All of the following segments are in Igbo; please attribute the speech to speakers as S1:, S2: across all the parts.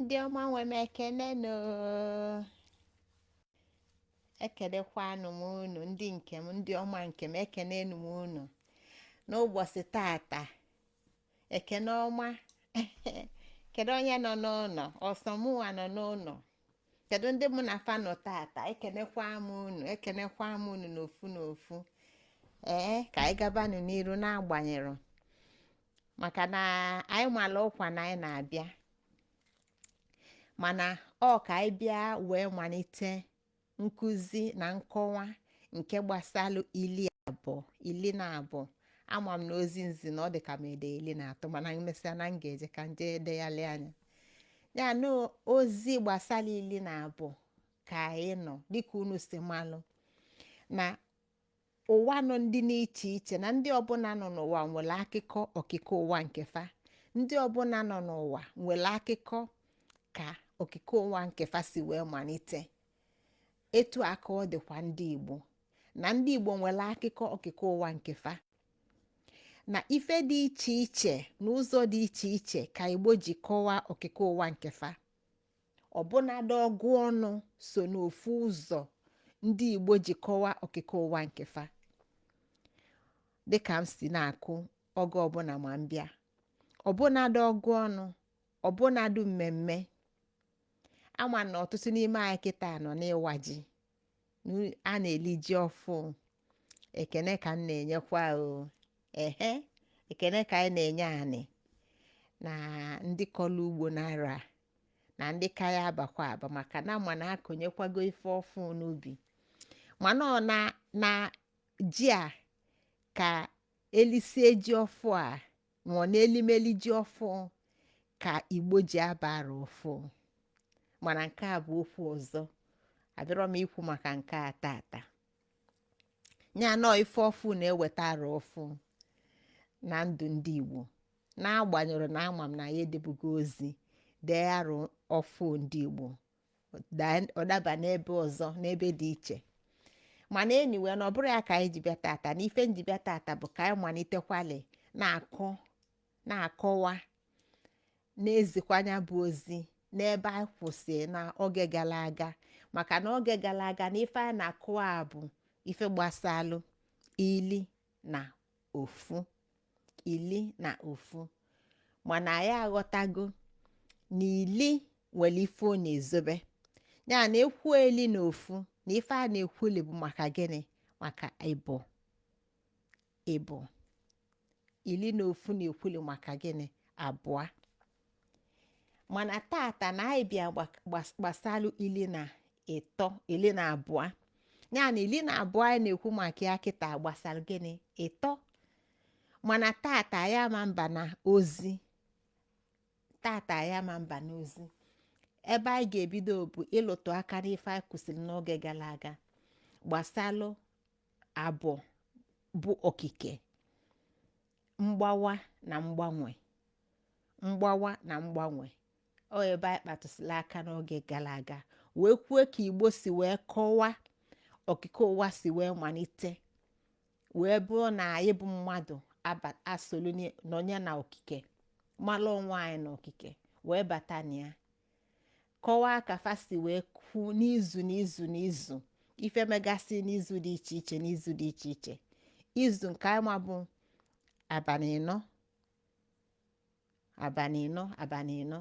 S1: ndị ọma nwe m ekene nụ ekenekwanụ m unu ndị nke m ndị ọma nke m ekene nụ m unu n'ụbọchị tata ekene ọma kedu onye nọ n'ụnọ ọ sọ mụnwa nọ n'ụnọ kedu ndị mụ na fa nọ tata ekenekwa m unu ekenekwa m unu n'ofu n'ofu ee ka anyị gabanụ n'iru n'agbanyerọ maka na anyị malụ ọkwa na anyị na-abịa mana ọ ka anyị bịa wee manite nkụzi na nkọwa nke gbasalụ ili ili na abụọ ama m na ozi nzi na ọ dị ka m ede ili na atọ mana emesịa na m ga-eje ka nje edeghalịa nya na ozi gbasalụ ili na abụọ ka anyị nọ dịka unu si malụ na ụwa nọ ndị n'iche iche na ndị ọbụna nọ n'ụwa nwelụ akịkọ okike ụwa nke fa ndị ọbụna nọ n'ụwa nwelụ akịkọ ka okike ụwa nke fa si wee manite etu a ka ọ dịkwa ndị igbo na ndị igbo nwelụ akịkọ okike ụwa nke fa na ife dị iche iche na ụzọ dị iche iche ka igbo ji kọwaa okike ụwa nke fa ọbụnadị ọgụ ọnụ so n'ofu ụzọ ndị igbo ji kọwaa okike ụwa nke fa dịka m si na-akọ oge ọbụna ma m bịa ọbụnadị ọgụ ọnụ ọbụnadị mmemme ama m na ọtụtụ n'ime anyị kịta nọ n'ịwa ji a na-eli ji ọfụ ekene ka m na-enyekwa o ehe ekene ka anyị na-enye anị na ndị kọlụ ugbo n'arọ a na ndị ka ya-abakwa aba maka na ma na akụnyekwago ife ọfụ n'ubi mana ọ na na ji a ka elisie ji ọfụ a nwụọ n'elimeli ji ọfụ ka igbo ji aba arọ ọfụ mana nke a bụ okwu ọzọ abịarọ m ikwu maka nke a tata nya na ọ ife ọfụ na-eweta arọ ọfụ na ndụ ndị igbo n'agbanyerọ na ama m na ya edebugo ozi dee arọ ọfụ ndị igbo ọ daa- ọ daba n'ebe ọzọ n'ebe dị iche mana anyway na ọ bụrọ ya ka anyị ji bịa tata na ife nji bịa tata bụ ka anyị manitekwalị na-akọ na-akọwa na-ezikwa nya bụ ozi n'ebe anyị kwụsị na oge galụ aga maka na oge galụ aga na ife anyị na-akọwa bụ ife gbasalụ ili na ofu ili na ofu mana anyị aghọtago na ili nwelụ ife ọ na-ezobe ya na ekwu ili na ofu na ife a na-ekwuli bụ maka gịnị maka ịbụọ ịbụọ ili na ofu na-ekwuli maka gịnị abụọ mana tata na anyị bịa gbasalụ ili na ịtọ ili na abụọ ya na ili na abụọ anyị na-ekwu maka ya kịta gbasalụ gịnị ịtọ mana tata anyị ama aba na ozi tata anyị ama aba n'ozi ebe anyị ga-ebido bụ ịlụtụ aka n'ife anyị kwụsịlị n'oge galụ aga gbasalụ abụọ bụ okike mgbawa na mgbanwe mgbawa na mgbanwe ọ ebe anyị kpatụsịlị aka n'oge galụ aga wee kwuo ka igbo si wee kọwaa okike ụwa si wee malite wee bụrụ na anyị bụ mmadụ aba- asolu ni- nọnye na okike malụ onwe anyị na okike wee bata na ya kọwaa ka fa si wee kwu n'izu n'izu n'izu ife megasị n'izu dị iche iche n'izu dị iche iche izu nke anyị ma bụ abalị ịnọ abalị ịnọ abalị ịnọ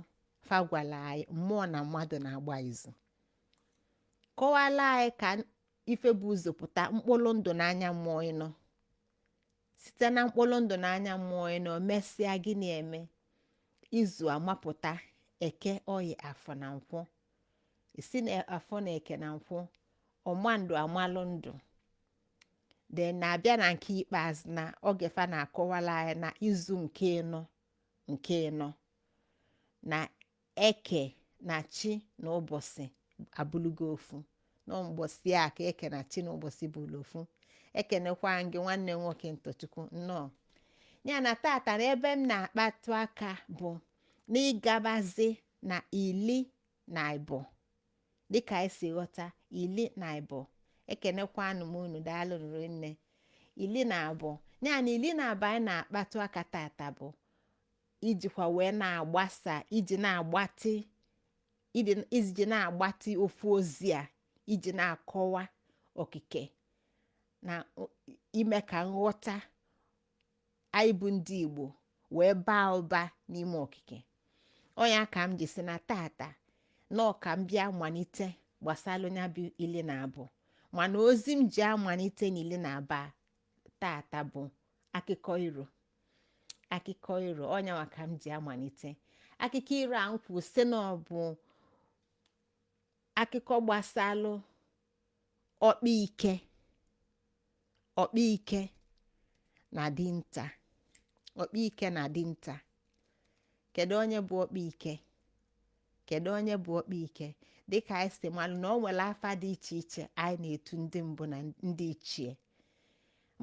S1: fa gwala anyị mmụọ na mmadụ na-agba izu kọwala anyị ka ife bu ụzọ pụta mkpụrụ ndụ n'anya mmụọ ịnọ site na mkpụrụ ndụ na anya mmụọ ịnọ mesịa gịnị eme izu amapụta eke oye afọ na nkwọ isi na afọ na eke na nkwọ ọma ndụ amalụ ndụ de na-abịa na nke ikpeazụ na oge fa na-akọwala anyị na izu nke ịnọ nke ịnọ na eke na chi na ụbọsị abụlụgo ofu na mbọsị a ka eke na chi na ụbọsị bụlụ ofu ekenekwa m gị nwanne m nwoke ntọchukwu nnọọ ya na tata na ebe m na-akpatụ aka bụ n'ịgabazi na ili na ịbụọ dịka anyị si ghọta ili na ịbụọ ekenekwanụ m unu daalụnụ rinne ili na abụọ ya na ili na abụọ anyị na-akpatụ aka tata bụ ijikwa wee na-agbasa iji na-agbatị iji na-agbatị ofu ozi a iji na-akọwa okike na ime ka nghọta anyị bụ ndị Igbo wee baa ụba n'ime okike ọ nya ka m ji sị na tata na ọ ka m bịa malite gbasalụ nya bụ ili na abụọ mana ozi m ji amalite n'ili na abụọ tata bụ akụkọ iro akụkọ iro ọ nyanwa ka m ji amalite akụkọ iro a m kwuru sị na ọ bụ akụkọ gbasalụ ọkpa ike ọkpa ike na dinta ọkpa ike na dinta kedu onye bụ ọkpa ike kedu onye bụ ọkpa ike dịka anyị si malụ na o nwere afa dị iche iche anyị na-etu ndị mbụ na ndị ichie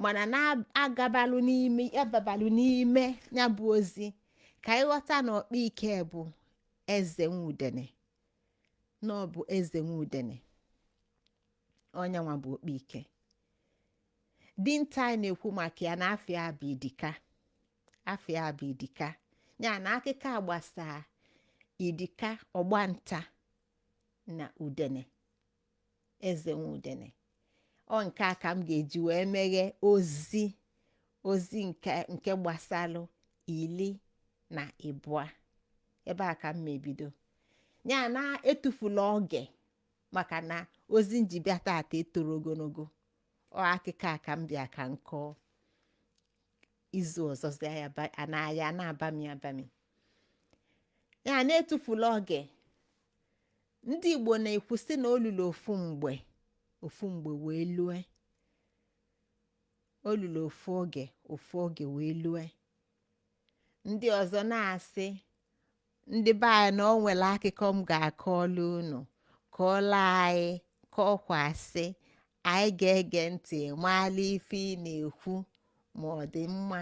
S1: mana na-agabalụ n'ime ababalụ n'ime ya bụ ozi ka anyị ghọta na ọkpa ike bụ eze nwudene na ọ bụ eze nwudene ọ nyanwa bụ ọkpa ike dinta anyị na-ekwu maka ya na afa ya bụ idika afa ya bụ idika ya na akụkọ a gbasaa idika ọgbanta na udene eze nwudene ọ nke a ka m ga-eji wee meghe ozi ozi nke nke gbasalụ ili na ịbụa ebe a ka m mebido ya na etufula oge maka na ozi m ji bịa tata etoro ogologo ọ akụkọ a ka m bịa ka m kọọ izu ọzọ zịa ya ba- a na- ya na-abami abami ya na-etufula oge ndị igbo na-ekwu sị na o lulu ofu mgbe ofu mgbe wee lue o lulu ofu oge ofu oge wee lue ndị ọzọ na-asị ndị be anyị na o nwere akụkọ m ga-akọọlụ unu kọọlụ anyị kọkwasị anyị ga-ege ntị maalụ ife ị na-ekwu ma ọ dị mma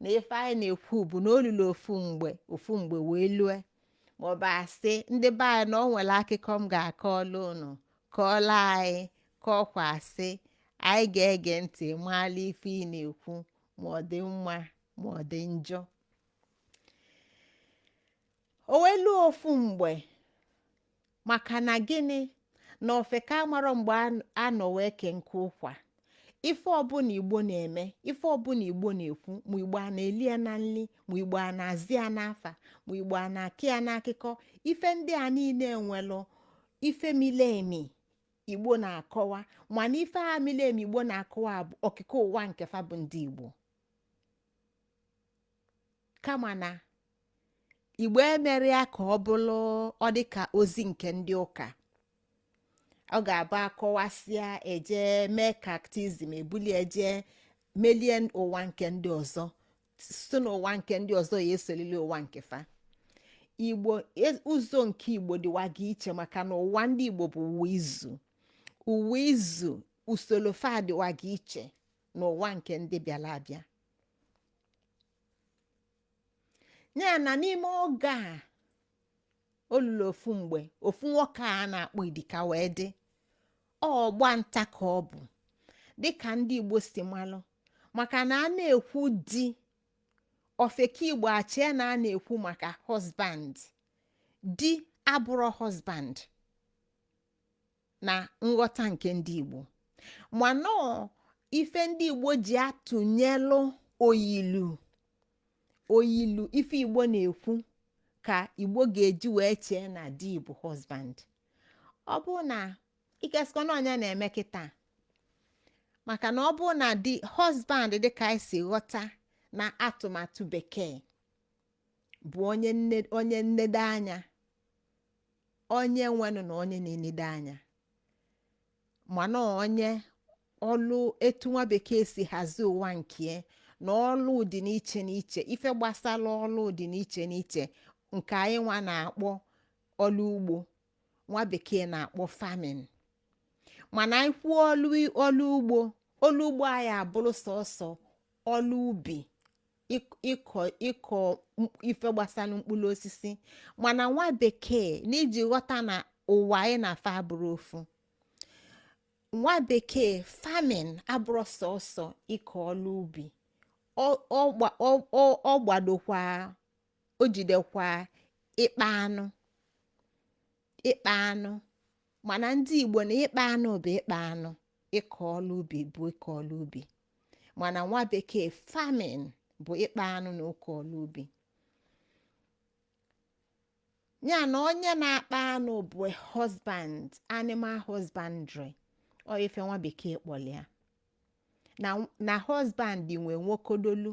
S1: na ife anyị na-ekwu bụ na o lulu ofu mgbe ofu mgbe wee lue maọbụ a sị ndị be anyị na o nwere akụkọ m ga-akọọlụ unu kọọlụ anyị kọọkwa asị anyị ga-ege ntị maalụ ife ị na-ekwu ma ọ dị mma ma ọ dị njọ o wee luo ofu mgbe maka na gịnị na ofeke amarọ mgbe an- a nọ wee kee nkụ ụkwa ife ọbụla igbo na-eme ife ọbụla igbo na-ekwu ma igbo a na-eli ya na nli ma igbo a na-aza ya n'afa ma igbo a na-akọ ya n'akụkọ ife ndị a niile nwelụ ife mili emi igbo na-akọwa mana ife a mili emi igbo na-akọwa bụ okike ụwa nke fa bụ ndị igbo kama na igbo emerọ ya ka ọ bụrụ ọ dị ka ozi nke ndị ụka ọ ga-abụ a kọwasịa e je mee catechism e bulu e je melie ụwa nke ndị ọzọ site n'ụwa nke ndị ọzọ ya esolili ụwa nke fa igbo e- ụzọ nke igbo dịwaga iche maka na ụwa ndị igbo bụ ụwa izu ụwa izu usoro fa dịwaga iche n'ụwa nke ndị bịara abịa ya na n'ime oge a o lulu ofu mgbe ofu nwoke a na-akpọ idika wee dị ọgba nta ka ọ bụ dịka ndị igbo si malụ maka na a na-ekwu di ofeke igbo echee na a na-ekwu maka husband di abụrọ husband na nghọta nke ndị igbo mana ọ ife ndị igbo ji atụnyelụ oyilu oyilu ife igbo na-ekwu ka igbo ga-eji wee chee na di bụ husband ọ bụ na ikeskọ na ọ nya na-eme kịta maka na ọ bụ na di husband dịka anyị si ghọta na atụmatụ bekee bụ onye nne onye nnedo anya onye nwenụ na onye na-enedo anya mana onye ọlụ etu nwa bekee si hazie ụwa nke na ọlụ dị n'iche n'iche ife gbasara ọlụ dị n'iche n'iche nke anyị nwa na-akpọ ọlụ ugbo nwa bekee na-akpọ farming mana anyị kwuo ọlụ ọlụ ugbo ọlụ ugbo anyị abụrụ sọsọ ọlụ ubi ịk- ịkọ ịkọ m- ife gbasara mkpụrụ osisi mana nwa bekee n'iji ghọta na ụwa anyị na fa abụrọ ofu nwa bekee farming abụrọ sọsọ ịkọ ọlụ ubi ọ- ọ gba- ọ- ọ- ọ gbadokwa o jidekwa ịkpa anụ ịkpa anụ mana ndị igbo na ịkpa anụ bụ ịkpa anụ ịkọ ọlụ ubi bụ ịkọ ọlụ ubi mana nwa bekee farming bụ ịkpa anụ na ịkọ ọlụ ubi ya na onye na-akpa anụ bụ husband animal husbandry ọ ife nwa bekee kpọlụ ya na na husband nwe nwokodolu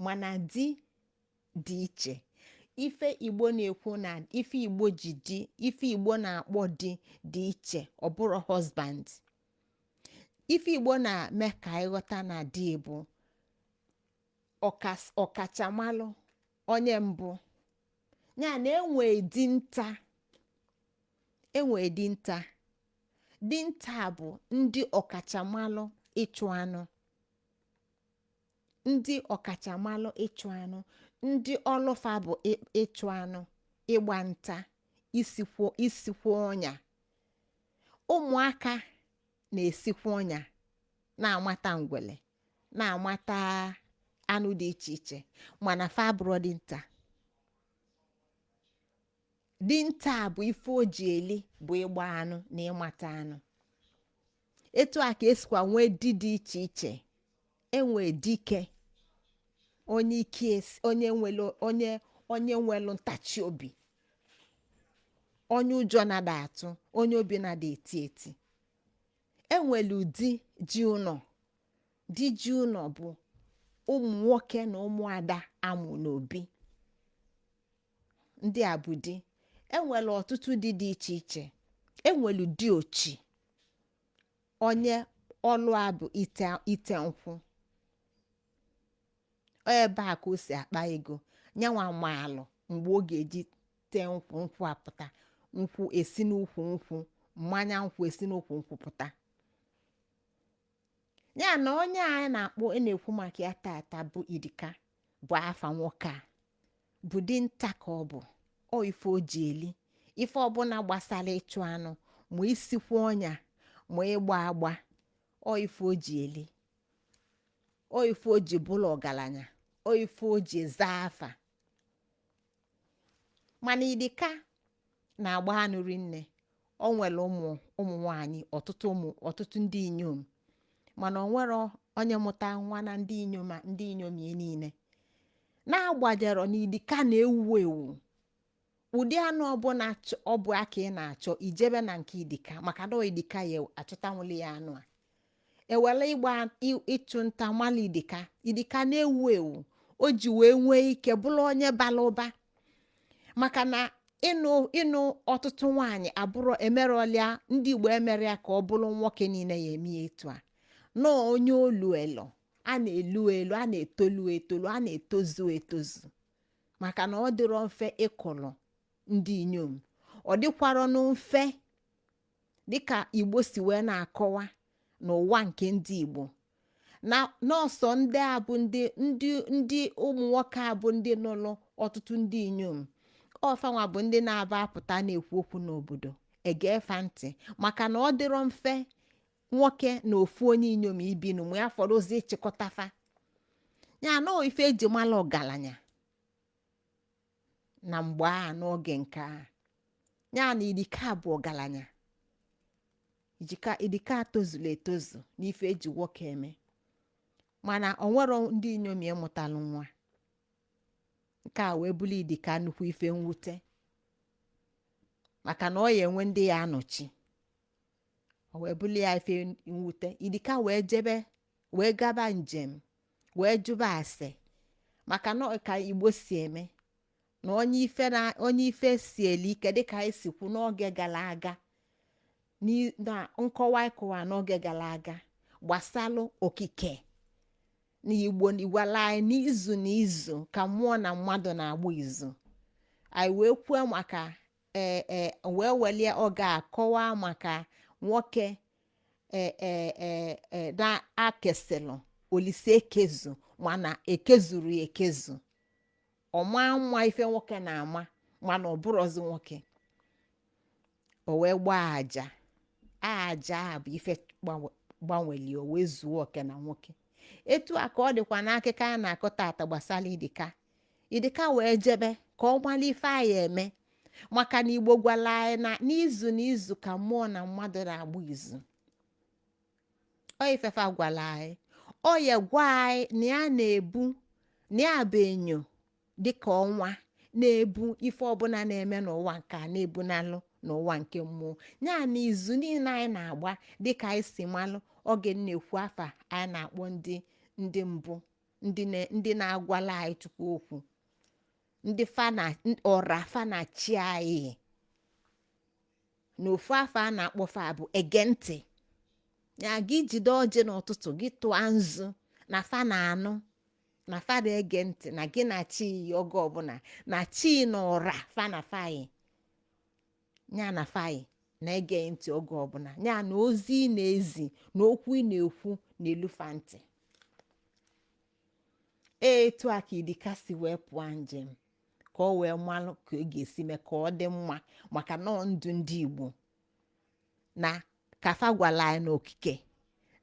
S1: mana di dị iche ife igbo na-ekwu na ife igbo ji di ife igbo na-akpọ di dị iche ọ bụrọ husband ife igbo na-eme ka ị ghọta na di bụ ọkachamalụ onye mbụ ya na e nwe dinta e nwe dinta dinta bụ ndị ọkachamalụ ịchụ anụ ndị ọkachamalụ ịchụ anụ ndị ọlụ fa bụ ị- ịchụ anụ ịgba nta isikwo isikwo ọnya ụmụaka na-esikwa ọnya na-amata ngwele na-amata anụ dị iche iche mana fa abụrọ dinta dinta bụ ife o ji eli bụ ịgba anụ na ịmata anụ etu a ka esikwa nwee di dị iche iche enwe dike onye ike esi- onye nwelu onye onye nwelu ntachi obi onye ụjọ na-ada atụ onye obi na-ada eti eti enwelu di ji ụnọ di ji ụnọ bụ ụmụ nwoke na ụmụada amụ n'obi ndị a bụ di enwelu ọtụtụ di dị iche iche enwelu di ochi onye ọlụ a bụ ite ite nkwụ ọ ebe a ka o si akpa ego nyanwa maalụ mgbe ọ ga-eji tee nkwụ nkwụ apụta nkwụ esi n'ukwu nkwụ mmanya nkwụ esi n'ukwu nkwụ pụta ya na onye a anyị na-akpọ a na-ekwu maka ya tata bụ idika bụ afa nwoke a bụ dinta ka ọ bụ ọ ife o ji eli ife ọbụna gbasalụ ịchụ anụ ma isikwa ọnya ma ịgba agba ọ ife o ji eli ọ ife o ji bụlụ ọgalanya ọ ife o ji zaa afa mana idika na-agba anụ rinne o nwelu ụmụ ụmụ nwanyị ọtụtụ ụmụ ọtụtụ ndị inyom mana o nwero onye mụta nwa na ndị inyom a- ndị inyom ya niile na-agbajero na idika na-ewu ewu ụdị anụ ọbụla chọ- ọ bụ ka ị na-achọ i jebe na nke idika maka na ọ idika ya achọtanwụli ya anụ a ewelu ịgba ị- ịchụ nta mala idika idika na-ewu ewu o ji wee nwee ike bụlụ onye balụ ụba maka na ịnụ ịnụ ọtụtụ nwaanyị abụrọ emerọlịa ndị igbo emerọ ya ka ọ bụlụ nwoke niine ya eme ya etu a nọọ onye olu elu a na-elu elu a na-etolu etolu a na-etozu etozu maka na ọ dịrọ mfe ịkọlọ ndị inyom ọ dịkwarọnụ mfe dịka igbo si wee na-akọwa n'ụwa nke ndị igbo na nọọsọ ndị a bụ ndị ndị ndị ụmụ nwoke a bụ ndị nụlụ ọtụtụ ndị inyom ọ fanwa bụ ndị na-aba apụta na-ekwu okwu n'obodo egee fa ntị maka na ọ dịrọ mfe nwoke na ofu onye inyom ibinụ ma ya fọrọzi ịchịkọta fa ya na ọ ife eji mala ọgalanya na mgbe a n'oge nke a ya na idika bụ ọgalanya idika idika tozulu etozu n'ife eji nwoke eme mana o nwero ndị inyom ya mụtalụ nwa nke a wee bụlụ idika nnukwu ife mwute maka na ọ ya enwe ndị ya anọchi o wee bụrụ ya ife mwute idika wee jebe wee gaba njem wee jụba ase maka na ọ ka igbo si eme na onye ife na onye ife sieli ike dịka anyị si kwu n'oge gara aga n'i- na nkọwa ịkọwa n'oge gara aga gbasalụ okike na igbo gwala anyị n'izu na izu ka mmụọ na mmadụ na-agba izu anyị wee kwuo maka ee ee wee welie oge a kọwaa maka nwoke ee ee ee ee na-akesilụ olisa ekezu mana ekezurọ ya ekezu ọ ma mma ife nwoke na-ama mana ọ bụrọzi nwoke o wee gbaa aja aja a bụ ife gbanwe- gbanweli o wee zuo oke na nwoke etu a ka ọ dịkwa n'akụkọ a na-akọ tata gbasara idika idika wee jebe ka ọ mara ife ọ ya-eme maka na igbo gwara anyị na n'izu na izu ka mmụọ na mmadụ na-agba izu ọ ife fa gwara anyị ọ ya gwa anyị na ya na-ebu na ya bụ enyo dịka ọnwa na-ebu ife ọbụla na-eme n'ụwa nke a na-ebunalụ n'ụwa nke mmụọ ya na izu niile anyị na-agba dịka anyị si malụ oge na-ekwu afa anyị na-akpọ ndị ndị mbụ ndị na- ndị na-agwala anyị chukwu okwu ndị fa na ọra fa na chi anyị na ofu afa a na-akpọ fa bụ ege ntị ya gị jide ọjị n'ụtụtụ gị tụọ nzu na fa na-anụ na fa na-ege ntị na gị na chi yi oge ọbụla na chi na ọra fa na fa yi ya na fa yi na-ege gị ntị oge ọbụla ya na ozi ị na-ezi na okwu ị na-ekwu na-elu fa ntị etu a ka idika si wee pụọ njem ka ọ wee malụ ka ọ ga-esi mee ka ọ dị mma maka na ọ ndụ ndị igbo na ka fa gwala anyị na okike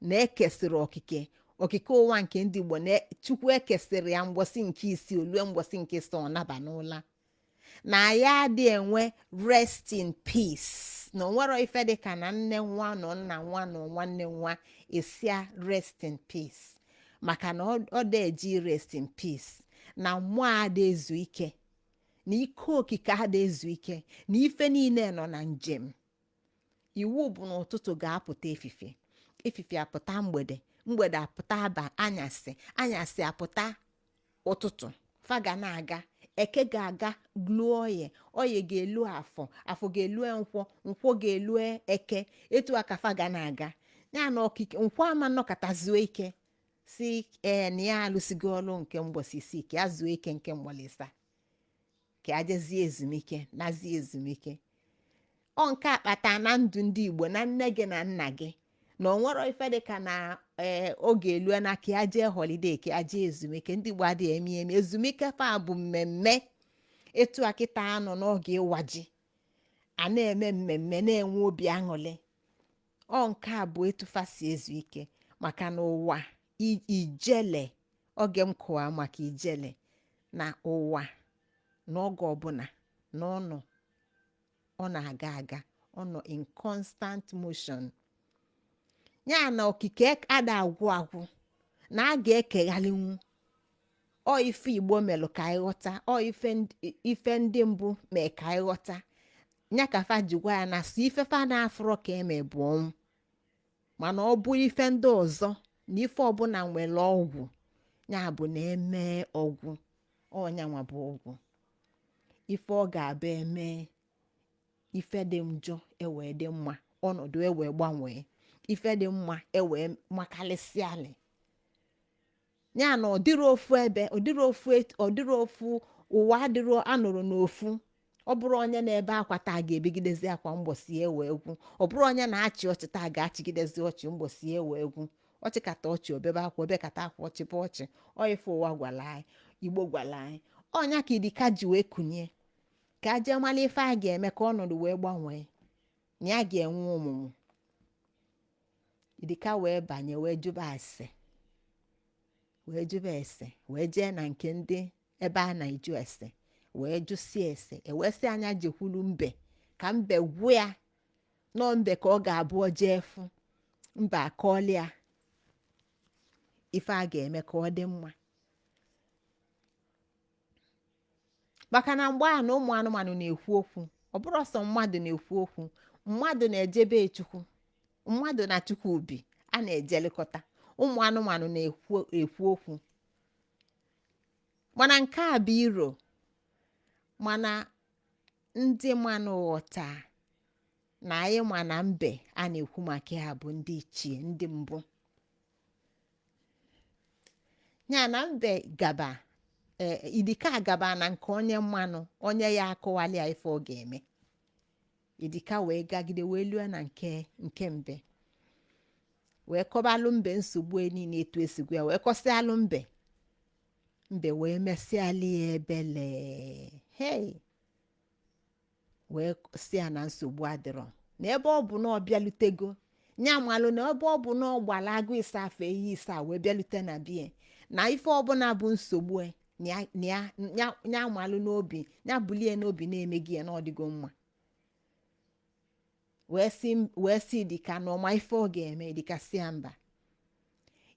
S1: na e kesịrị okike okike ụwa nke ndị igbo na chukwu ekesịrị ya mgbọsị nke isii o lue mgbọsị nke ịsaa ọ naba n'ụla na ya adị enwe rest in peace na o nwero ife dị ka na nne nwụa na nna nwụa na nwanne nwụa e sị ya rest in peace maka na ọ ọ dị eji rest in peace na mmụọ ada ezu ike na ike okike ada ezu ike na ife niile nọ na njem iwu bụ na ụtụtụ ga-apụta efife efife apụta mgbede mgbede apụta aba anyasị anyasị apụta ụtụtụ fa ga na-aga eke ga-aga luo oye oye ga-elu afọ afọ ga-elu nkwọ nkwọ ga-elu eke etu a ka fa ga na-aga ya na okike nkwọ ama nọkata zuo ike sị ee na ya alụsigo ọlụ nke mgbọsị isii ka ya zuo ike nke mgbọsị ịsaa ka ya jezie ezumike nazie ezumike ọ nke a kpata na ndụ ndị igbo na nne gị na nna gị na o nwerọ ife dị ka na ee oge elue na ka ya jee holiday ka ya jee ezumike ndị igbo adịghị eme eme ezumike fa bụ mmemme etu a kịta a nọ n'oge ịwa ji a na-eme mmemme na-enwe obi aṅụrị ọ nke a bụ etu fa si ezu ike maka na ụwa i- ijele oge m kọwa maka ijele na ụwa na oge ọbụla na ọ nọ ọ na-aga aga ọ nọ in constant motion ya na okike ada agwụ agwụ na a ga-ekeghalinwu ọ ife igbo melụ ka anyị ghọta ọ ife ndị- ife ndị mbụ mee ka anyị ghọta nya ka fa ji gwa ya na sọ ife fa na-afụrọ ka eme bụ ọnwụ mana ọ bụrụ ife ndị ọzọ na ife ọbụla nwere ọgwụ ya bụ na eme ọgwụ ọ nyanwa bụ ọgwụ ife ọ ga-abụ eme ife dị njọ ewee dị mma ọnọdụ ewee gbanwee ife dị mma ewee makalịsịalị ya na ọ dịrọ ofu ebe ọ dịrọ ofu et- ọ dịrọ ofu ụwa adịrọ anọrọ n'ofu ọ bụrọ onye na-ebe akwa taa ga-ebegidezi akwa mbọsị ewee gwụ ọ bụrọ onye na-achị ọchị taa ga-achịgidezi ọchị mbọsị ewee gwụ ọ chịkata ọchị o bebe akwa o bekata akwa ọ chịba ọchị ọ ife ụwa gwalụ anyị igbo gwalụ anyị ọ nya ka idika ji wee kunie ka a jee malụ ife a ga-eme ka ọnọdụ wee gbanwee na ya ga-enwe ọmụmụ idika wee banye wee jụba ase wee jụba ese wee jee na nke ndị ebe a na-ajụ ese wee jụsịa ese ewee sị ya nya jekwulu mbe ka mbe gwa ya na ọ mbe ka ọ ga-abụ o jee fụ mbe akọọlụ ya ife a ga-eme ka ọ dị mma maka na mgbe ahụ na ụmụ anụmanụ na-ekwu okwu ọ bụrọ sọ mmadụ na-ekwu okwu mmadụ na-eje be chukwu mmadụ na chukwu bi a na-ejelikọta ụmụ anụmanụ na-ekwu ekwu okwu mana nke a bụ iro mana ndị manụ ghọta na anyị ma na mbe a na-ekwu maka ya bụ ndị ichie ndị mbụ ya na mbe gaba ee idika gaba na nke onye nwanụ onye ya akọwalị ya ife ọ ga-eme idika wee gagide wee lue na nke nke mbe wee kọbalụ mbe nsogbu ya niile etu e si gwa ya wee kọsịalụ mbe mbe wee mesịalị ya ebele hei wee sị ya na nsogbu adịrọ na ebe ọ bụ na ọ bịalutego ya malụ na ebe ọ bụ na ọ gbara agụ ịsa fee iyi ịsa wee bịalute na bie na ife ọbụla bụ nsogbu e, na ya- na ya- ya- ya malụ n'obi ya bulie n'obi na emego ya na ọ dịgo mma wee sị wee sị idika na ọ ma ife ọ ga-eme idika sị ya mba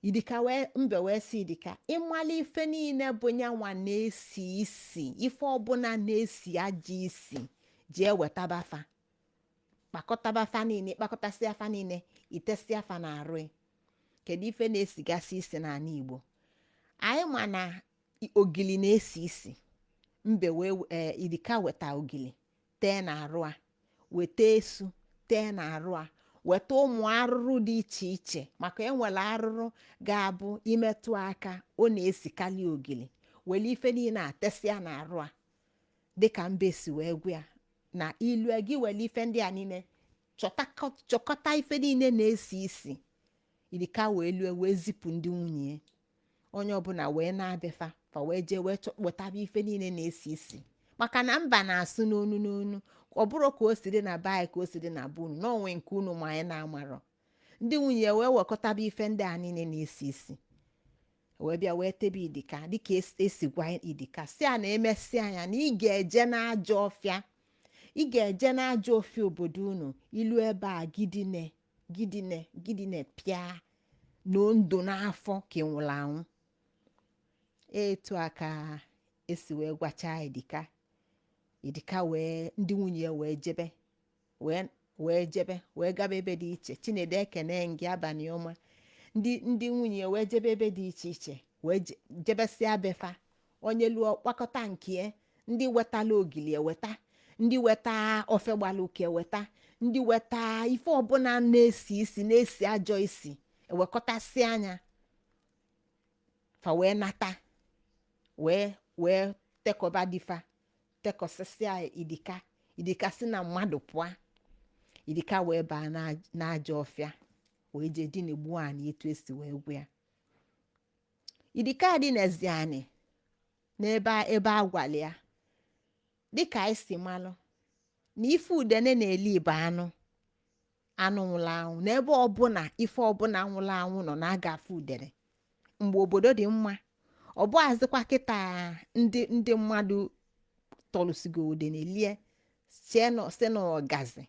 S1: idika wee mbe wee sị idika ị mala ife niile bụ nyanwa na-esi isi ife ọbụla na-esi ajọ isi jee wetaba fa kpakọtaba fa niile kpakọtasịa fa niile i tesịa fa na arụ gị. kedu ife na-esigasị isi n'anị igbo anyị ma na i- ogili na-esi isi mbe wee ee idika weta ogili tee n'arụ a weta esu tee n'arụ a weta ụmụ arụrụ dị iche iche maka e nwere arụrụ ga-abụ i metụ a aka ọ na-esikalị ogili were ife niile a tesịa n'arụ a dịka mbe si wee gwa ya na i lue gị were ife ndị a niile chọtakọ- chọkọta ife niile na-esi isi idika wee lue wee zipụ ndị nwunye ya onye ọbụla wee naa bie fa fa wee jee wee chọ- wetaba ife niile na-esi isi maka na mba na-asụ n'onu n'onu ọ bụrọ ka o si dị na be anyị ka o si dị na be unu na o nwe nke unu ma anyị na-amarọ ndị nwunye wee wekọtaba ife ndị a niile na-esi isi wee bịa wee tebe idika dịka es- e si gwa idika sị a na emesịa nya na ị ga-eje n'ajọ ọfịa ị ga-eje n'ajọ ọfịa obodo unu i lu ebe a gị dine gị dine gị dine pịa nọdụ n'afọ ka ị nwụrụ anwụ etu a ka e si wee gwachaa idika idika wee ndị nwunye ya wee jebe wee wee jebe wee gaba ebe dị iche chinedu ekene m gị abanị ọma ndị ndị nwunye ya wee jebe ebe dị iche iche wee je- jebesịa be fa onye luo ọ kpakọta nkie ndị wetala ogili eweta ndị weta ofe gbara ụka eweta ndị weta ife ọbụla na-esi isi na-esi ajọ isi ewekọtasịa nya fa wee nata wee wee tekọba di fa tekọsịsịa idika idika si na mmadụ pụọ idika wee baa na- n'ajọ ọfịa wee jee dinegbuo anị etu e si wee gwa ya Idika dinezie anị n'ebe a- ebe a gwara ya dịka anyị si malụ na ife udene na-eli bụ anụ anụ nwụrụ anwụ na ebe ọbụla ife ọbụla nwụrụ anwụ nọ na a ga-afụ udene mgbe obodo dị mma ọ bụazịkwa kịta ndị ndị mmadụ tọlụsịgo udene lie chee na ọ sị na ọgazi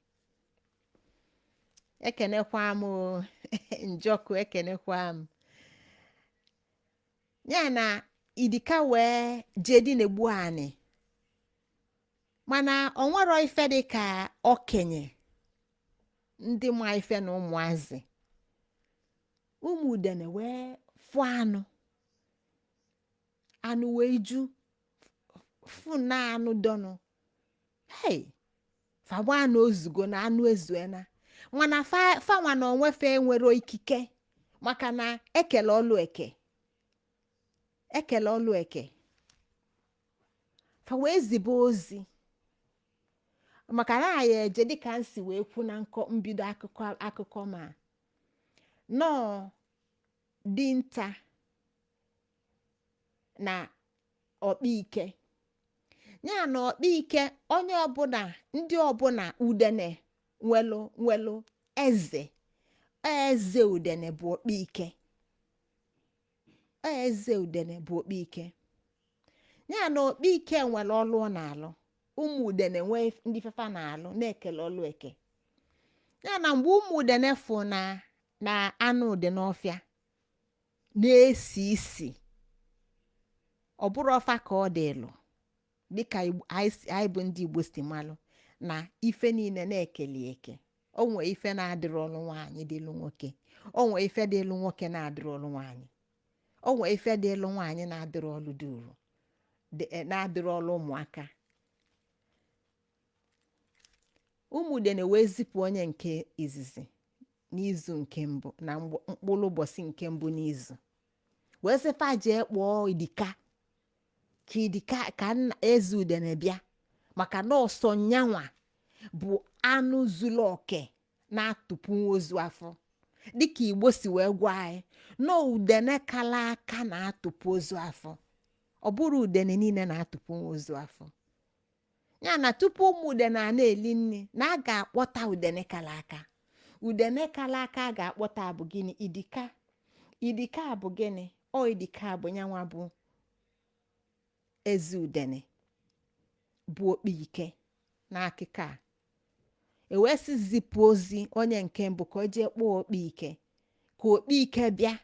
S1: ekenekwa m o, njọkụ ekenekwa m ya na idika wee jee dị na-egbu anị mana o nwerọ ife dị ka okenye ndị ma ife na ụmụazị ụmụ udene wee fụọ anụ anụ wee ju fụ na anụ dọnụ hei fa gbaa na o zugo na anụ ezuena mana fa fanwa na onwe fa enwero ikike maka na ekele ọlụ eke ekele ọlụ eke fa wee zibe ozi maka na anyị eje dịka m si wee kwu na nkọ mbido akụkọ akụkọ m na ọ dinta na ọkpaike ya na ọkpaike onye ọbụla ndị ọbụla udene nwelụ nwelụ eze eze udene bụ ọkpaike eze udene bụ ọkpaike ya na ọkpaike nwere ọlụ ọ na-alụ ụmụ udene nwee ndị ife fa na-alụ na ekele ọlụ eke ya na mgbe ụmụ udene fụ na na anụ dị n'ọfịa na-esi isi ọ bụrọ fa ka ọ dịlụ dịka Igbo- anyị si- anyị bụ ndị igbo si malụ na ife niile na ekele eke o nwee ife na-adịrọlụ nwaanyị dịlụ nwoke o nwee ife dịlụ nwoke na-adịrọlụ nwaanyị o nwee ife dịlụ nwaanyị na-adịrọlụ duru dị- eh, na-adịrọlụ ụmụaka Ụmụ udene wee zipụ onye nke izizi n'izu nke mbụ na mgb- mkpụrụ ụbọchị nke mbụ n'izu wee sị fa jee kpọọ idika ka idika ka nna eze udene bịa maka na ọ sọ nyanwa bụ anụ zuru oke na-atụpụnwu ozu afọ dịka igbo si wee gwa anyị na udene kala aka na-atụpụ ozu afọ ọ bụrọ udene niile na-atụpụnwu ozu afọ ya na tupu ụmụ udene a na-eli nri na a ga-akpọta udene kala aka udene kala aka a ga-akpọta bụ gịnị idika idika bụ gịnị ọ idika bụ nyanwa bụ eze udene bụ ọkpa ike n'akụkọ a e wee sị zipụ ozi onye nke mbụ ka o jee kpọọ ọkpa ike ka ọkpa ike bịa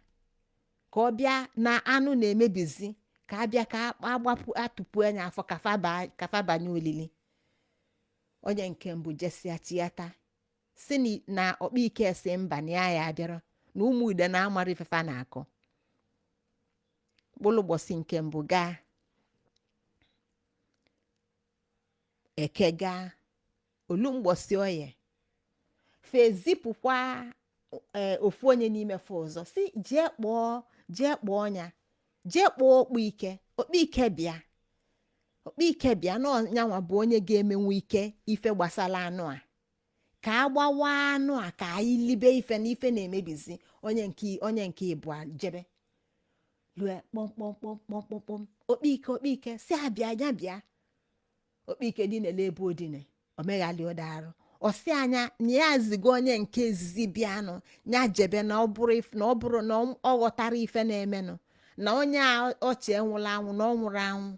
S1: ka ọ bịa na anụ na-emebizi ka a bịa ka a gbapụ a tụpụ anụ afọ ka fa banye olili onye nke mbụ jesịa chiata sị na ọkpa ike sị mba na ya ya abịara na ụmụ udene amara ife fa na-akọ mkpụlụ ụbọchị nke mbụ gaa eke gaa olu mgbọsị oye fa ezipụkwa ee ofu onye n'ime fa ọzọ sị jee kpọọ jee kpọọ onye a jee kpọọ okpu ike okpu ike bịa okpu ike bịa na ọ nyanwa bụ onye ga-emenwu ike ife gbasalụ anụ a ka a gbawa anụ a ka anyị libe ife na ife na-emebizi onye nke onye nke ịbụa jebe lue kpọmkpọmkpọmkpọmkpọm okpike okpike sị abịa ya bịa okpike dinelụ ebe o dine o meghalịrọdụ arụ ọ sị ya na ya zigo onye nke izizi bịanụ ya jebe na ọ bụrụ if- na ọ bụrụ na ọ ọ ghọtarọ ife na-emenụ na onye a o che nwụlụ anwụ na ọ nwụrọ anwụ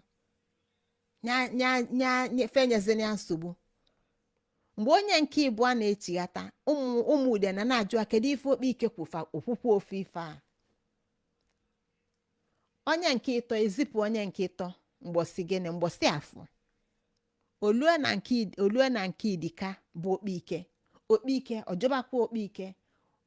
S1: nya fa enyezina ya nsogbu mgbe onye nke ịbụa na-echighata ụmụ ụmụ udene a na-ajụ kedu ife okpe ike kwulu o kwukwa ofu ife a onye nke ịtọ e zipụ onye nke ịtọ mgbọsị gịnị mgbọsị afọ o lue na nke o lue na nke dike a bụ okpe ike okpe ike ọ jọbakwa okpe ike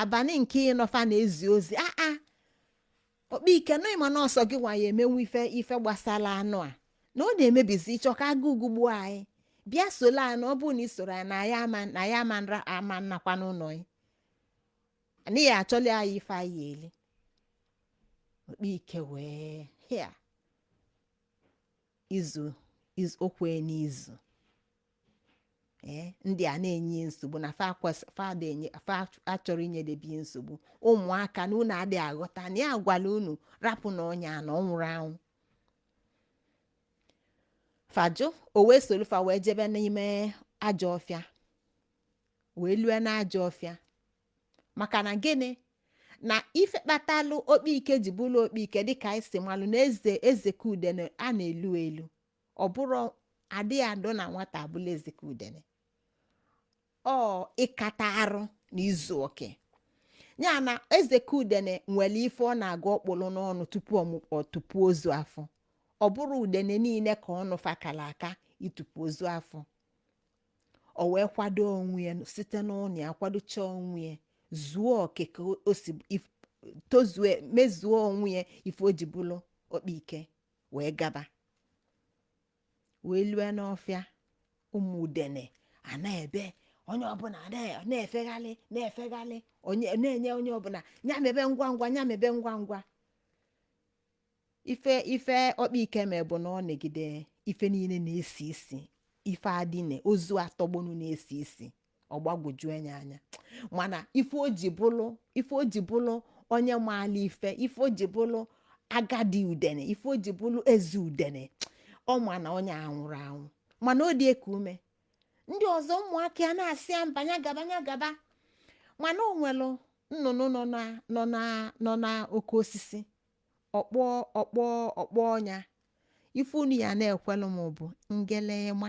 S1: abanị nke ịnọ fa na-ezi ozi aa okpe ike na ị ma na ọ sọ gị nwa ya-emenwu ife ife gbasalụ anụ a na ọ na-emebizi ị chọ ka agụụ gụgbuo anyị bịa solu anyị na ọ bụrụ na ị sorọ anyị na anyị ama na anyị ama nra ama nakwa n'ụnọ yị na ị ya-achọlụ anyị ife anyị ya-eli okpe ike wee hịa izu izu o kwe n'izu ee ndị a na-enye ya nsogbu na fa kwes- fa ada enye fa achọrọ inyedebe ya nsogbu ụmụaka na unu adịrọ aghọta na ya gwalụ unu rapụ na onye a na ọ nwụrọ anwụ fa jụ o wee solu fa wee jebe n'ime ajọ ọfịa wee lue n'ajọ ọfịa maka na gịnị na ife kpatalụ okpike ji bụlụ okpike dịka anyị si malụ na eze ezike udene a na-elu elu ọ bụrọ adịghị adụ na nwata abụlụ ezike udene ọ ịkata arụ na izu oke ya na ezike udene nwelụ ife ọ na-aga ọ kpụlụ n'ọnụ tupu ọ tụpuo ozu afọ ọ bụrọ udene niine ka ọnụ fa kalụ aka ịtụpu ozu afọ o wee kwado onwe ya site n'ụlọ ya kwadocha onwe ya zuo oke ka o si if- tozue mezuo onwe ya ife o ji bụlụ okpa ike wee gaba wee lue n'ọfịa ụmụ udene a na-ebe onye ọbụna na- na-efeghalị na-efeghalị onye na-enye onye ọbụna ya mebe ngwa ngwa ya mebe ngwa ngwa ife ife okpike me bụ na ọ nagide ife niine na-esi isi ife a dine ozu a tọgbọnụ na-esi isi ọ gbagwoju anya anya mana ife o ji bụlụ ife o ji bụlụ onye maala ife ife o ji bụlụ agadi udene ife o ji bụlụ eze udene ọ ma na onye a nwụrụ anwụ mana ọ dị eku ume ndị ọzọ ụmụaka ya na-asị ya mba ya gaba ya gaba mana o nwelụ nnụnụ nọ na nọ na nọ na oke osisi ọkpọ ọkpọ ọkpọ ọnya ife unu ya na-ekwelụ m bụ ngelema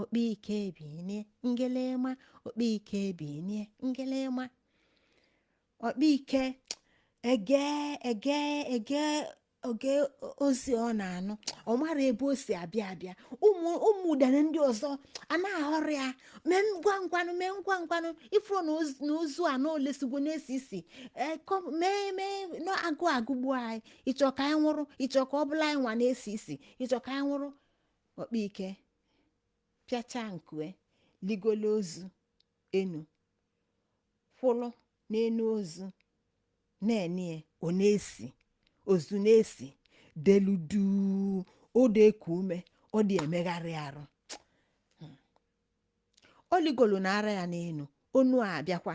S1: okpike binie ngelema okpike binie ngelema okpike ege ege ege oge ozi ọ na-anụ ọ mara ebe o si abịa abịa ụmụ ụmụ udene ndị ọzọ a na-ahọrọ ya mee ngwa ngwanụ mee ngwa ngwanụ ị fụrụ na ozu- na ozu a na o lesigwo na-esi isi ee, kọ- mee mee na agụ agụgbu anyị ị chọ ka anyị nwụrụ ị chọ ka ọ bụlụ anyị nwa na-esi isi ị chọ ka anyị nwụrụ okpike pịachaa nku ya ligolo ozu enu kwụrụ n'enu ozu na-ene ọ na-esi ozu na-esi delu duu ọ dị eku ume ọ dị emegharị arụ o ligolo na ara ya n'enu onu a abịakwa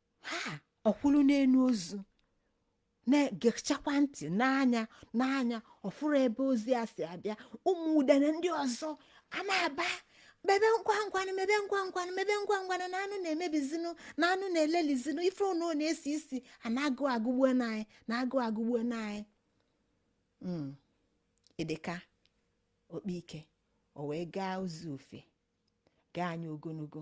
S1: ha ọ kwụlụ n'enu ozu na-egechakwa ntị n'anya n'anya ọ fụrụ ebe ozi a si abịa ụmụ udene ndị ọzọ a na-aba mebe ngwa ngwanụ mebe ngwa ngwanụ mebe ngwa ngwanụ na anụ na-emebizinụ na anụ na-elelizinụ ife ụnụ na-esi isi a na agụ agụgbuona anyị na agụ agụgbuona anyị Mm. idika okpike o wee gaa ozu ofe gaa ya ogonogo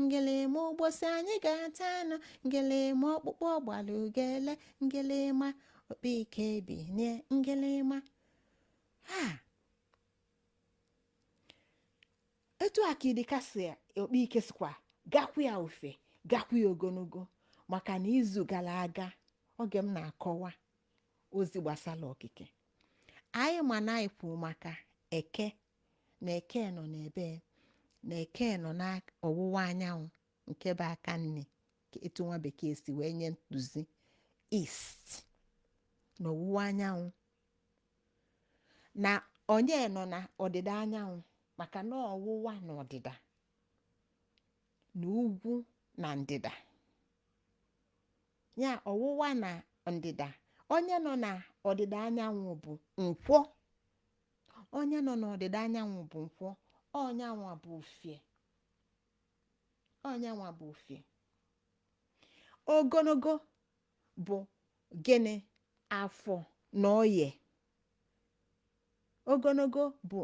S1: ngelema ụbọchị anyị ga-ata anụ ngelema ọkpụkpụ gbalụ ugele ngelema okpike binie ngelema ha etu a ka idika si okpike sikwa gakwu ya ofe gakwu ya ogonogo maka na izu gara aga oge m na-akọwa ozi gbasara okike anyị ma na anyị kwuru maka eke na eke nọ n'ebe na eke nọ n'ọwụwa anyanwụ nke bụ aka nni ka etu nwa bekee si wee nye ntụzi east na ọwụwa anyanwụ na onye nọ na ọdịda anyanwụ maka na ọwụwa na ọdịda na ugwu na ndịda ya ọwụwa na ndịda onye nọ na ọdịda anyanwụ bụ nkwọ onye nọ n'ọdịda anyanwụ bụ nkwọ ọ nyanwa bụ ufie ọ nyanwa bụ ufie ogologo bụ gịnị afọ na oye ogologo bụ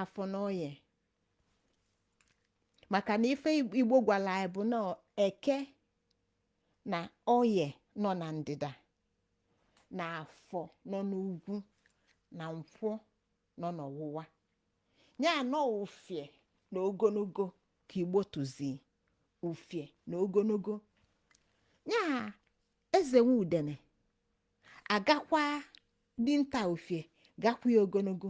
S1: afọ na oye maka na ife igbo gwara anyị bụ na eke na oye nọ na ndịda na afọ nọ n'ugwu na nkwọ nọ n'ọwụwa anyanwụ ufie na ogologo ka igbo tụzi ufie na ogologo ya eze nwe udene agakwa dinta ufie gakwa ya ogologo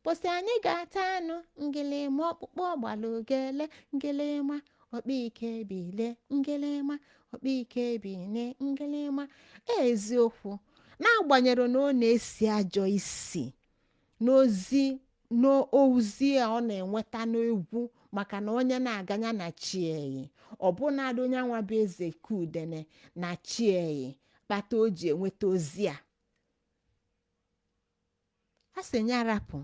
S1: Mbọsị anyị ga-ata anụ ngịlịma ọkpụkpụ ọgbala ogele ngịlịma ọkpa ike bilie ngịlịma ọkpa ike bilie ngịlịma eziokwu n'agbanyeghị na ọ na-esi ajọ isi n'ozi a ọ na-enweta n'egwu maka na onye na-aga nya na chi ya yi ọbụnadị nyanwa bụ ezeka udene na chi ya yi kpata o ji enweta ozi a a sị ya rapụ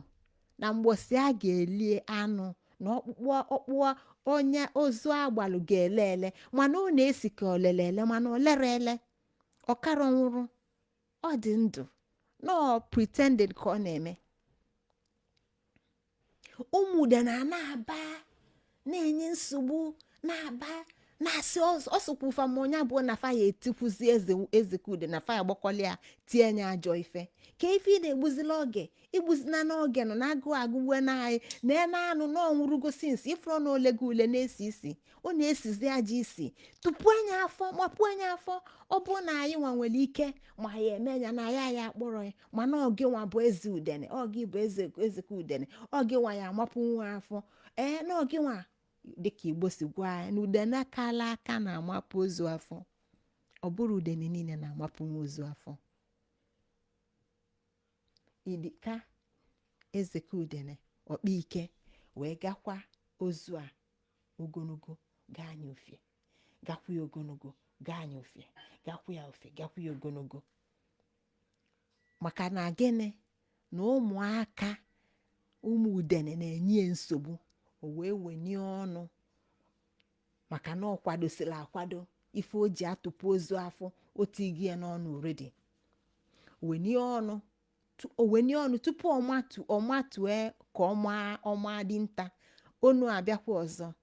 S1: na mgbọsị a ga-elie anụ na ọkpụkpụ onye ozu agbalụ ga-ele ele mana ọ na-esi ka o lere ele mana o lerọ ele ọ karọ nwụrụ ọ dị ndụ na ọ pretended ka ọ na-eme ụmụ udene a na-aba na-enye nsogbu na-aba na-asị ọsọkwa ụfa ma onye abụọ na fa ya-etigbuzi ezeka udene na fa ya gbakọli ya tie nya ajọ ife kee ife ị na-egbuzila oge egbuzina oge na agụụ agụwana anyị na anụ a na ọ nwụrụgo since ị fụrọ na o lego ule na-esi isi ọ na-esizi ajọ isi tụpụ nya afọ mapụ nya afọ ọ bụrụ na anyị nwa nwere ike ma anyị eme ya na ya ya akpọrọ ya mana ọ gịnwa bụ eze udene ọ gị bụ ezeka udene ọ gịnwa ya-amapụnwu afọ ee na ọ gịnwa dịka igbo si gwa anyị na udene kala aka na-amapụ ozu afọ ọ bụrọ udene niile na-amapụnwu ozu afọ idika ezeka udene ọkpa ike wee gakwa ozu a ogologo gaa nya ufie gakwa ya ogologo gaa nya ufie gakwa ya ufie gakwa ya ogologo maka na gịnị na ụmụaka ụmụ udene na-enye ya nsogbu o wee wenye ọnụ maka na ọ kwadosili akwado ife o ji atụpụ ozu afọ o tinyego ya n'ọnụ already wenye ọnụ tu- o wenye ọnụ tupu ọ matue ka ọ ma dinta onu abịakwa ọzọ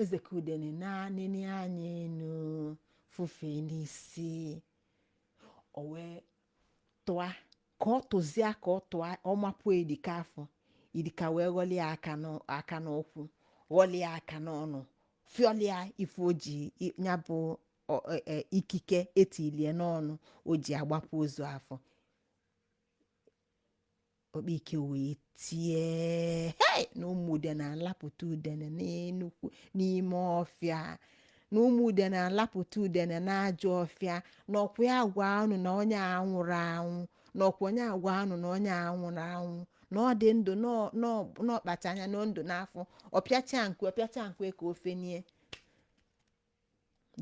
S1: eze ka udene nenie anya enu fufee n'isi o wee tụa ka ọ tụzịa ka ọ tụa ọ mapụọ idika afọ idika wee ghọlị ya aka n'ụ- aka n'ụkwụ ghọlị ya aka n'ọnụ fịọlịa ife o ji i- ya bụ ọ- e- e- ikike etilie n'ọnụ o ji agbapụ ozu afọ okpike wee tie hei na ụmụ udene alapụta udene n'enukwu n'ime ọfịa na ụmụ udene alapụta udene n'ajọ ọfịa na ọkwa ya gwa unu na onye a anwụrọ anwụ na ọkwa nya agwa unu na onye a anwụrọ anwụ na ọ dị ndụ n'ọ- n'ọ- n'ọkpacha anya na ndụ n'afọ ọ pịacha nku ọ pịacha nku ka o fenie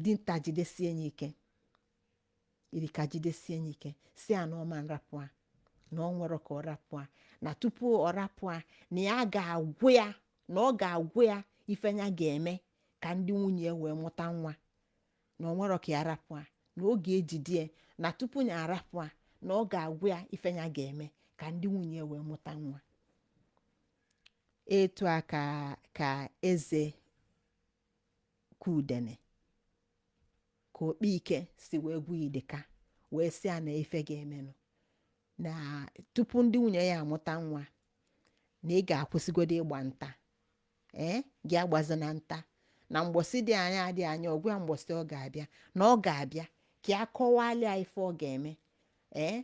S1: dinta jidesie ya ike idika jidesie ya ike sị a na ọ ma nrapụ a na o nwerọ ka ọ rapụ a na tupu ọ rapụ a na ya ga-agwa ya na ọ ga-agwa ya ife ya ga-eme ka ndị nwunye ya wee mụta nwa na o nwerọ ka ya rapụ a na ọ ga-ejide ya na tupu ya arapụ a na ọ ga-agwa ya ife ya ga-eme ka ndị nwunye ya wee mụta nwa etu a ka ka eze ka udene ka okpike si wee gwa idika wee sị ya na ife ga-emenụ na tupu ndị nwunye ya amụta nwa na ị ga-akwụsịgodo ịgba nta ee gị agbazina nta na mgbọsị dị anya adị anya ọ gwa ya mgbọsị ọ ga-abịa na ọ ga-abịa ka ya kọwalịa ife ọ ga-eme ee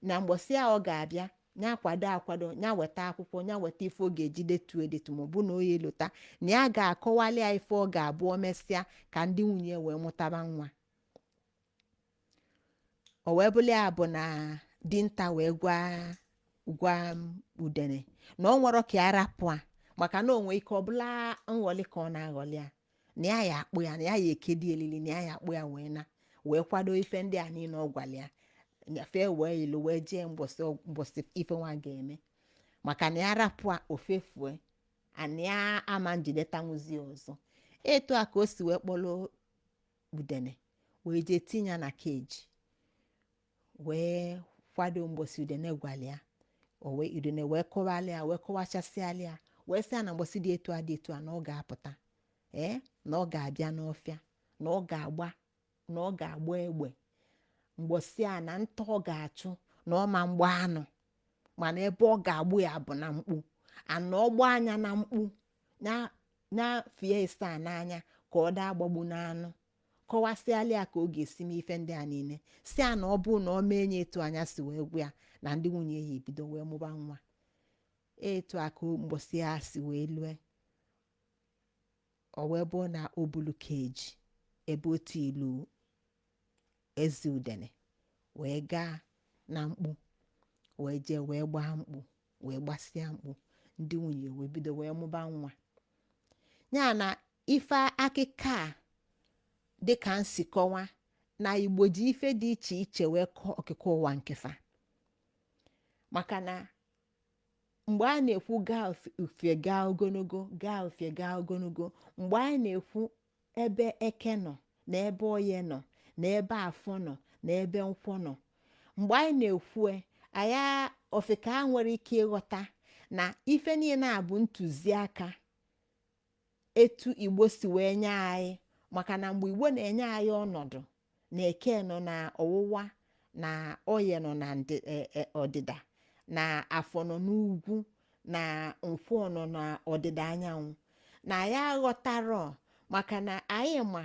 S1: na mgbọsị a ọ ga-abịa ya kwado akwado ya weta akwụkwọ ya weta ife ọ ga-eji detu edetu ma ọ bụ na ọ ya-elota na ya ga-akọwali ya ife ọ ga-abụ o mesịa ka ndị nwunye wee mụtaba nwa o wee bụrụ ya bụ na dinta wee gwa gwa udene na o nwerọ ka ya rapụ a maka na o nwee ike ọ bụlụ nghọlị ka ọ na-aghọlị ya na ya ya akpụ ya na ya ya ekedi elili na ya ya akpụ ya wee na wee kwado ife ndị a niile ọ gwara ya nyafee wee ilu wee jee mgbọsị ọg- mgbọsị ife nwa ga-eme maka na ya rapụ a o fefue na ya ama njidetanwuzi ọzọ etu a ka o si wee kpọrọ udene wee jee tinye ya na cage wee kwado mgbọsị udene gwara ya o wee udene wee kọwara ya wee kọwachasịala ya wee sị ya na mgbọsị dị etu a dị etu a na ọ ga-apụta ee na ọ ga-abịa n'ọfịa na ọ ga-agba na ọ ga-agba egbe mgbọsị a na nta ọ ga-achụ na ọ ma mgba anụ mana ebe ọ ga-agba ya bụ na mkpu a na ọ gbaa ya na mkpu na na fie ịsaa n'anya ka ọ daa gbagbu n'anụ kọwasịala ya ka ọ ga-esi mee ife ndị a niile sị ya na ọ bụrụ na ọ mee nya etu nya si wee gwa ya na ndị nwunye ya ebido wee mụba nwa etu a ka mbọsị ya si wee lue ọ wee bụrụ na o bulu keji ebe otu ilu ezi udene wee gaa na mkpu wee jee wee gbaa mkpu wee gbasịa mkpu ndị nwunye wee bido wee mụba nwa ya na ife akịka a dịka m si kọwa na igbo ji ife dị iche iche wee kọọ okike ụwa nke fa maka na mgbe a na-ekwu gaa ufie gaa ogologo gaa ufie gaa ogologo mgbe a na-ekwu ebe eke nọ na ebe oye nọ na ebe afọ nọ na ebe nkwọ nọ mgbe anyị na-ekwu nya ofeke enwerọ ike ịghọta na ife niile a bụ ntụziaka etu igbo si wee nye anyị maka na mgbe igbo na-enye anyị ọnọdụ na eke nọ na ọwụwa na oye nọ na ndị- e- e- ọdịda na afọ nọ n'ugwu na nkwọ nọ na ọdịda anyanwụ na anyị aghọtarọ maka na anyị ma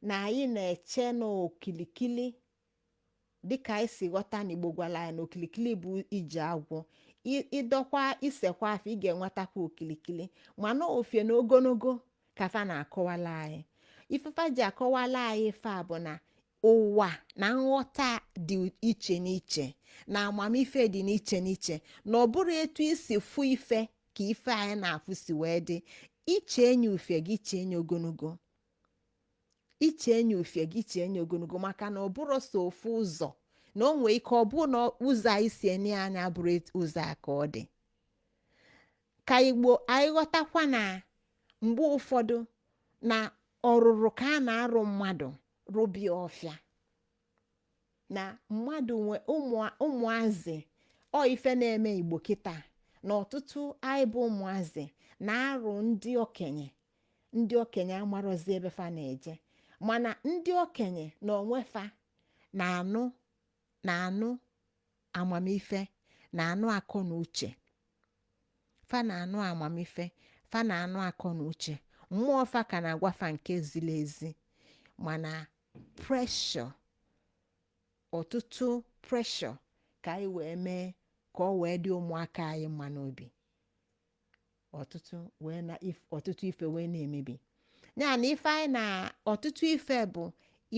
S1: na anyị na-eche n'okilikili dịka anyị si ghọta na igbo gwara anyị na okilikili bụ ije agwọ I- ị dọkwa i sekwa afọ ị ga-enwetakwa okilikili mana ufie na ogologo ka fa na-akọwala anyị ife fa ji akọwala anyị ife a bụ na ụwa na nghọta dị iche n'iche na amamife dị n'iche n'iche na ọ bụrọ etu i si fụ ife ka ife anyị na-afụ si wee dị i chee nya ufie gị chee nya ogologo i chee nya ufie gị chee nya ogologo maka na ọ bụrọ sọ ofu ụzọ na o nwee ike ọ bụrụ na ụzọ anyị si ene anya abụrọ etu- ụzọ a ka ọ dị ka igbo anyị ghọtakwa na mgbe ụfọdụ na ọrụrụ ka a na-arụ mmadụ rụbie ọfịa na mmadụ nwe ụmụ- ụmụazị ọ ife na-eme igbo kịta na ọtụtụ anyị bụ ụmụazị na-arụ ndị okenye ndị okenye amarọzi ebe fa na-eje mana ndị okenye na onwe fa na-anụ na-anụ amamife na-anụ akọ na uche fa na-anụ amamife fa na-anụ akọ na uche mmụọ fa ka na-agwa fa nke ziri ezi mana pressure ọtụtụ pressure ka anyị wee mee ka ọ wee dị ụmụaka anyị mma n'obi ọtụtụ wee na if- ọtụtụ ife wee na-emebi ya na ife anyị na ọtụtụ ife bụ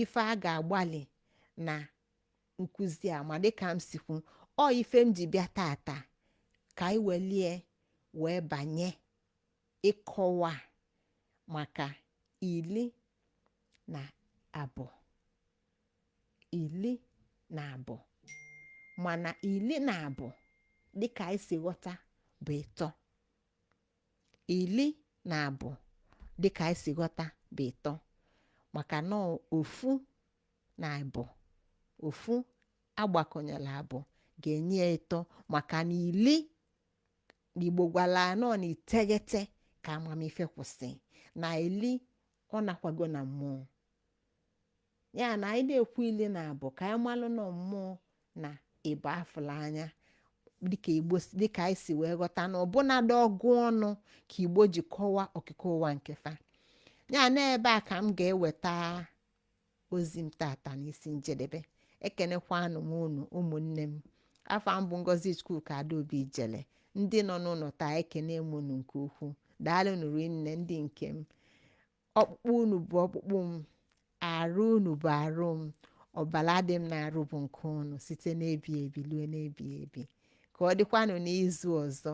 S1: ife a ga-agbalị na nkụzi a ma dịka m si kwu ọ ife m ji bịa tata ka anyị welie wee banye ịkọwa maka ili na abụọ ili na abụọ mana ili na abụọ dịka anyị si ghọta bụ ịtọ ili na abụọ dịka anyị si ghọta bụ ịtọ maka na ọ ofu na abụọ ofu agbakọnyelụ abụọ ga-enye ya ịtọ maka na ili na igbo gwalụ anyị na ọ na iteghete ka amamife kwụsị na ili ọ nakwago na mmụọ ya na anyị na-ekwu ili na abụọ ka anyị malụ na mmụọ na ịbụa afụlụ anya dịka igbo si- dịka anyị si wee ghọta na ọbụnadị ọgụ ọnụ ka igbo ji kọwaa okike ụwa nke fa ya na ebe a ka m ga-eweta ozi m tata n'isi njedebe ekenekwanụ m unu ụmụnne m afa m bụ ngozi chukwuka adaobi ijele ndị nọ n'ụlọ taa ekene m unu nke ukwuu daalụnụ ụmụnne ndị nke m ọkpụkpụ unu bụ ọkpụkpụ m arụ unu bụ arụ m ọbala dị m n'arụ bụ nke unu site n'ebi ebi lue n'ebi ebi ka ọ dịkwanụ n'izu ọzọ